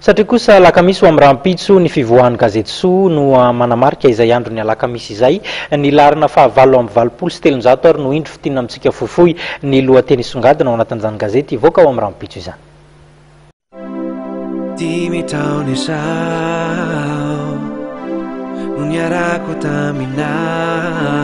Satria kosa alakamisy ho amin'ny rahampitso ny fivoahan'ny gazety Soa no manamarika izay andron'ny alakamisy izay. Ny laharana faha valo amby valopolo sy telonjato ary no indro fintinina amintsika fohifohy ny lohateny hisongadina ao anatin'izany gazety hivoaka ao amin'ny rahampitso izany. Dimy taona izao no niarako taminao.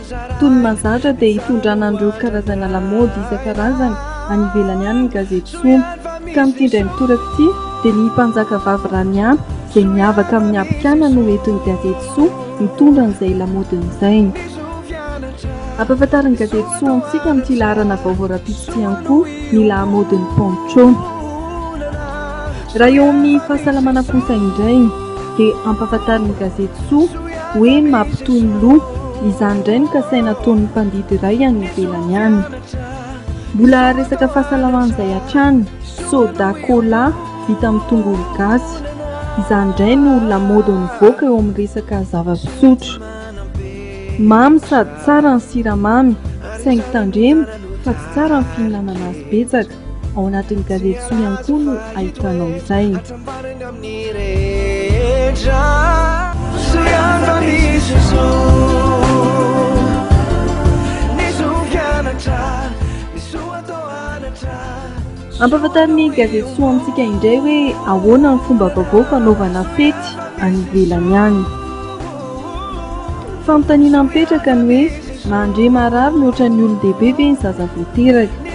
Toy ny mahazatra dia hitondrana an'ireo karazana lamaody isan-karazany any ivelany any ny gazety Sono. Ka amin'ity indray mitoraka ity dia ny Mpanjakavavy Raniampy izay miavaka amin'ny habikana no entin'ny gazety Soa mitondra an'izay lamaodiny izay. Ampahafantarin'ny gazety Soa antsika amin'ity laharana vaovao rahampitso ity ihany koa ny lahamaodin'i Poncho. Raha eo amin'ny fahasalamana kosa indray. dia ampahafantarin'ny gazety soa hoe mampitohy ny loha, izany indray no kasaina ataon'ny mpandidy iray any ivelany any. Mbola resaka fahasalamana izay hatrany, soda cola vita amin'ny tongolo gasy, izany indray no lamaody mivoaka eo amin'ny resaka zava-pisotro. Mamy sady tsara ny siramamy, saingy tandremo fa tsy tsara ny fihinanana azy betsaka. Ao anatin'ny gazety soa ihany koa no ahitanao izay. Ampahafantarin'ny gazety soa amintsika indray hoe ahoana ny fomba vaovao fanaovana fety any ivelany any. Fanontaniana mipetraka ny hoe mandre marary mihoatra ny olon-dehibe ve ny zaza vao teraka?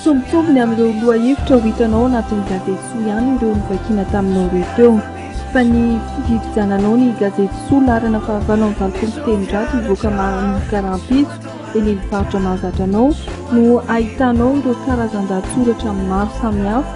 Tsy mitovy ny amin'ireo lohahevitra ho hitanao ao anatin'ny gazety Soa ihany ireo novakiana taminao ireo teo, fa ny fivivijananao ny gazety Soa laharana fahavalo amin'ny valopolo sy telonjato hivoaka manomboka rahampitso, eny amin'ny faritra mahazatra anao, no hahitanao ireo karazan-dahatsoratra maro samihafa.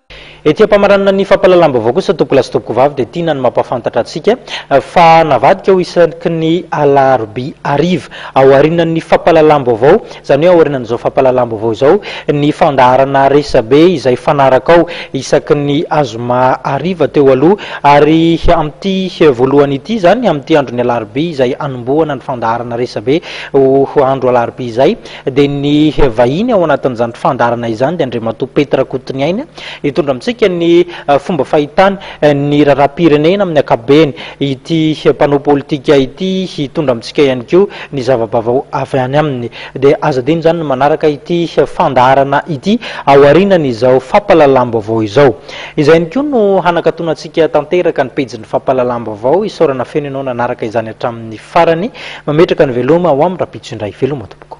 Ety am-pamaranana ny fampahalalam-baovao kosa tompoko lahy sy tompoko vavy dia tiana ny mampahafantatra antsika fa navadika ho isaky ny alarobia hariva ao aorianan'ny fampahalalam-baovao, izany hoe ao aorianan'izao fampahalalam-baovao izao, ny fandaharana resabe izay fanarakao isaky ny azoma hariva teo aloha ary amin'ity voalohany ity izany, amin'ity andron'ny alarobia izay hanombohana ny fandaharana resabe ho andro alarobia izay. dia ny vahiny ao anatin'izany fandaharana izany dia Andriamatoa Petr Rakotoniaina hitondra amintsika ny eh, fomba fahitany eh, ny raharaham-pirenena amin'ny akabeny ity eh, mpanao politika ity hitondra amintsika ihany koa ny zavabavao avy any aminy dia aza dino izany ny manaraka ity fandaharana ity ao aorianan'izao fampalalam-baovao izao Izay ihany koa no hanakatona antsika tanteraka ny pejin'ny fampahalalam-baovao. Isaorana feno ianao nanaraka izany hatramin'ny farany. Mametraka ny veloma ho amin'ny rahampitso indray. Veloma tompoko.